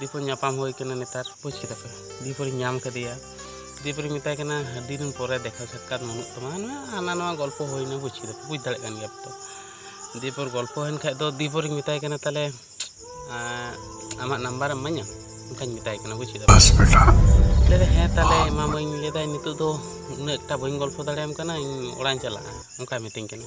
ᱫᱤᱯᱚᱨ ᱧᱟᱯᱟᱢ ᱦᱩᱭ ᱠᱟᱱᱟ ᱱᱮᱛᱟᱨ ᱵᱩᱡᱽ ᱠᱮᱫᱟ ᱯᱮ ᱫᱤᱯᱚᱨᱤᱧ ᱧᱟᱢ ᱠᱟᱫᱮᱭᱟ ᱫᱤᱯᱚᱨᱤᱧ ᱢᱮᱛᱟᱭ ᱠᱟᱱᱟ ᱟᱹᱰᱤ ᱫᱤᱱ ᱯᱚᱨᱮ ᱫᱮᱠᱷᱟ ᱥᱟᱠᱠᱟᱛ ᱵᱟᱹᱱᱩᱜ ᱛᱟᱢᱟ ᱦᱟᱱᱟ ᱱᱚᱣᱟ ᱜᱚᱞᱯᱚ ᱦᱩᱭᱱᱟ ᱵᱩᱡᱽ ᱠᱮᱫᱟ ᱯᱮ ᱵᱩᱡᱽ ᱫᱟᱲᱮᱭᱟᱜ ᱠᱟᱱ ᱜᱮᱭᱟ ᱯᱮ ᱛᱚ ᱫᱤᱯᱚᱨ ᱜᱚᱞᱯᱚ ᱦᱩᱭᱮᱱ ᱠᱷᱟᱡ ᱫᱚ ᱫᱤᱯᱚᱨᱤᱧ ᱢᱮᱛᱟᱭ ᱠᱟᱱᱟ ᱛᱟᱦᱞᱮ ᱟᱢᱟᱜ ᱱᱟᱢᱵᱟᱨ ᱮᱢ ᱤᱢᱟᱹᱧᱟ ᱚᱱᱠᱟᱧ ᱢᱮᱛᱟᱭ ᱠᱟᱱᱟ ᱵᱩᱡᱽ ᱠᱮᱫᱟ ᱯᱮ ᱞᱟᱹᱭᱫᱟ ᱦᱮᱸ ᱛᱟᱦᱞᱮ ᱮᱢᱟᱢᱟᱹᱧ ᱞᱟᱹᱭᱫᱟᱭ ᱱᱤᱛᱚᱜ ᱫᱚ ᱩᱱᱟᱹᱜ ᱮᱠᱴᱟ ᱵᱟᱹᱧ ᱜᱚᱞᱯᱚ ᱫᱟᱲᱮᱭᱟᱢ ᱠᱟᱱᱟ ᱤᱧ ᱚᱲᱟᱜ ᱤᱧ ᱪᱟᱞᱟᱜᱼᱟ ᱚᱱᱠᱟᱭ ᱢᱤᱛᱟᱹᱧ ᱠᱟᱱᱟ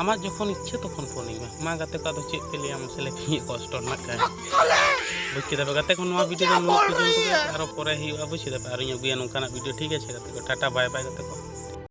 ᱟᱢᱟᱜ ᱡᱚᱠᱷᱚᱱ ᱤᱪᱪᱷᱟᱹ ᱛᱚᱠᱷᱚᱱ ᱯᱷᱳᱱ ᱤᱧ ᱢᱮ ᱢᱟ ᱜᱟᱛᱮ ᱠᱚ ᱟᱫᱚ ᱪᱮᱫ ᱯᱮ ᱞᱟᱹᱭᱟ ᱢᱟᱥᱮ ᱞᱟᱹᱭ ᱯᱮ ᱤᱧᱟᱹᱜ ᱠᱚᱥᱴᱚ ᱨᱮᱱᱟᱜ ᱠᱟᱹᱦᱱᱤ ᱵᱩᱡᱽ ᱠᱮᱫᱟ ᱯᱮ ᱜᱟᱛᱮ ᱠᱚ ᱱᱚᱣᱟ ᱵᱷᱤᱰᱤᱭᱳ ᱫᱚ ᱱᱚᱣᱟ ᱯᱚᱨᱡᱚᱱᱛᱚ ᱜᱮ ᱟᱨᱚ ᱯᱚᱨᱮ ᱦᱩᱭᱩᱜᱼᱟ ᱵᱩᱡᱽ ᱠᱮᱫᱟ ᱯᱮ ᱟᱨᱚᱧ ᱟᱹᱜᱩᱭᱟ ᱱᱚᱝᱠᱟᱱᱟᱜ ᱵᱷᱤᱰᱤᱭᱳ ᱴᱷᱤᱠ ᱟᱪᱷᱮ ᱜᱟᱛᱮ ᱠᱚ ᱴᱟᱴᱟ ᱵᱟᱭ ᱵᱟᱭ ᱜᱟᱛᱮ ᱠᱚ